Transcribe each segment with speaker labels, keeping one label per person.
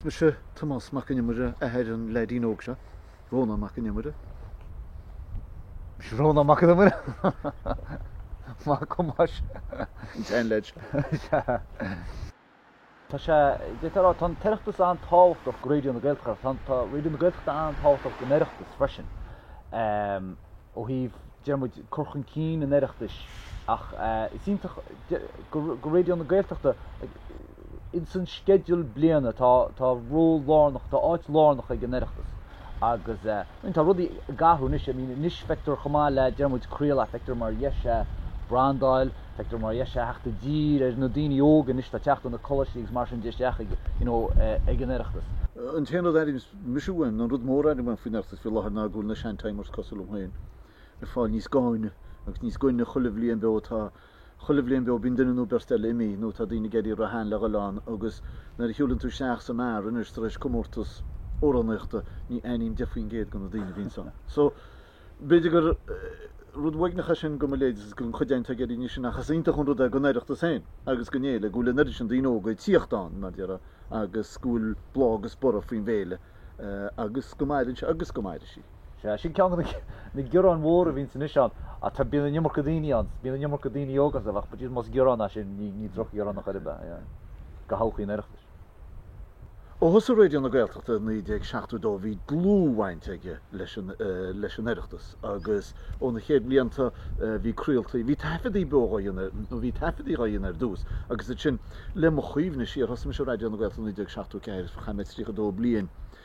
Speaker 1: Mise Tomás Mac An Iomaire, athair an leaidín óg seo, Rónán Mac An Iomaire. Mise
Speaker 2: Rónán Mac An Iomaire, mac Thomáis, an
Speaker 1: tseanleaid
Speaker 2: seo. Tá sé déanta a rá, tá an tOireachtas an-tábhachtach go Raidió na Gaeltachta, tá Raidió na Gaeltachta an-tábhachtach don Oireachtas freisin, ó thaobh. déarfaidh muid cur chun cinn an Oireachtais ach is iontach go Raidió na Gaeltachta insan sceideal bliana tá tá ról lárnach tá áit lárnach ag an Oireachtas agus in tá rudaí ag athrú anois I mean anois feictear chomh maith le déarfaidh muid craoladh feictear mar dheis é brandáil feictear mar dheis é theacht i dtír ar na daoine óga anois atá ag teacht as na coláistí agus mar sin de isteach ag you know ag an Oireachtas an t-aon
Speaker 1: rud airím Anois uaim, an rud mór a airím faoin Oireachtas faoi láthair ná go bhfuil na sean-timers, cosúil liom féin, ag fáil níos gainne agus níos gainne chuile bhliain beo atá. Chuile bhliain beo bíonn duine nó beirt eile imithe, nó tá daoine ag éirí róshean le dhul ann, agus nuair a shiúlann tú isteach sa mbeár anois tar éis comórtas amhránaíochta, ní aithním deich faoin gcéad de na daoine a bhíonns ann. So. B'fhéidir gur rud uaigneach é sin go mo leithéid, don chuid againn atá ag éirí níos sine, ach is iontach an rud é don Oireachtas féin agus don fhéile, go bhfuil an oiread sin daoine óga ag tíocht ann, mar a déarfá, agus go bhfuil bláth agus borradh faoin bhféile, agus go maireann sé agus go mairfidh sí. Sea, sin ceann
Speaker 2: de na gearáin mhóra a bhíonns anois ann, ach bíonn an iomarca daoine ann, bíonn an iomarca daoine óga ann, ach bíonn, más gearán é sin, ní drochghearán ar chor ar bith é, go thodhchaí an Oireachtais.
Speaker 1: Ó thosaigh Raidió na Gaeltachta i 1972 bhí dlúthbhaint aige leis an Oireachtas agus ó na chéad bhlianta bhí craoltaí, bhí taifeadaí beo dhá dhéanamh air, nó bhí taifeadaí dhá dhéanamh air ar dtús agus ansin le mo chuimhne siar, thosaigh mise i Raidió na Gaeltachta i 1974 agus chaith mé 32 bliain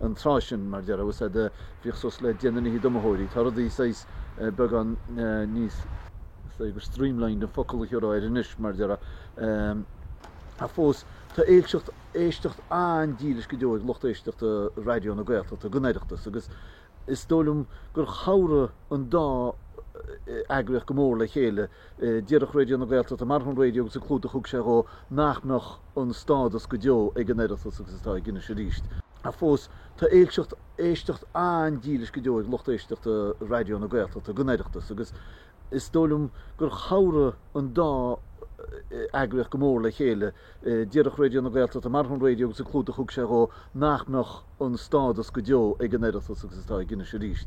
Speaker 1: an tráth sin, mar a déarfá, agus bhíodh suas le deich nduine fhichead d'iomaitheoirí. Tá rudaí saghas beagán níos. Is dóigh gur streamlined an focal a thiúrfá air anois, mar a déarfá. Ach fós, tá éilseacht, éisteacht an-dílis go deo ag lucht éisteachta Raidió na Gaeltachta don Oireachtas agus is dóigh liom gur chabhraigh an dá eagraíocht go mór le chéile. Marach Raidió na Gaeltachta, marach an raidió agus an clúdach a thug sé dhó, nach mbeadh. an stádas go deo ag an Oireachtas agus atá aige anois arís, ach fós tá éilseacht, éisteacht an-dílis go deo ag lucht éisteachta Raidió na Gaeltachta don Oireachtas agus is dóigh liom gur chabhraigh an dá eagraíocht go mór le chéile. Marach Raidió na Gaeltachta, marach an raidió agus an clúdach a thug sé dhó, nach mbeadh an stádas go deo ag an Oireachtas agus atá ag Inis arís.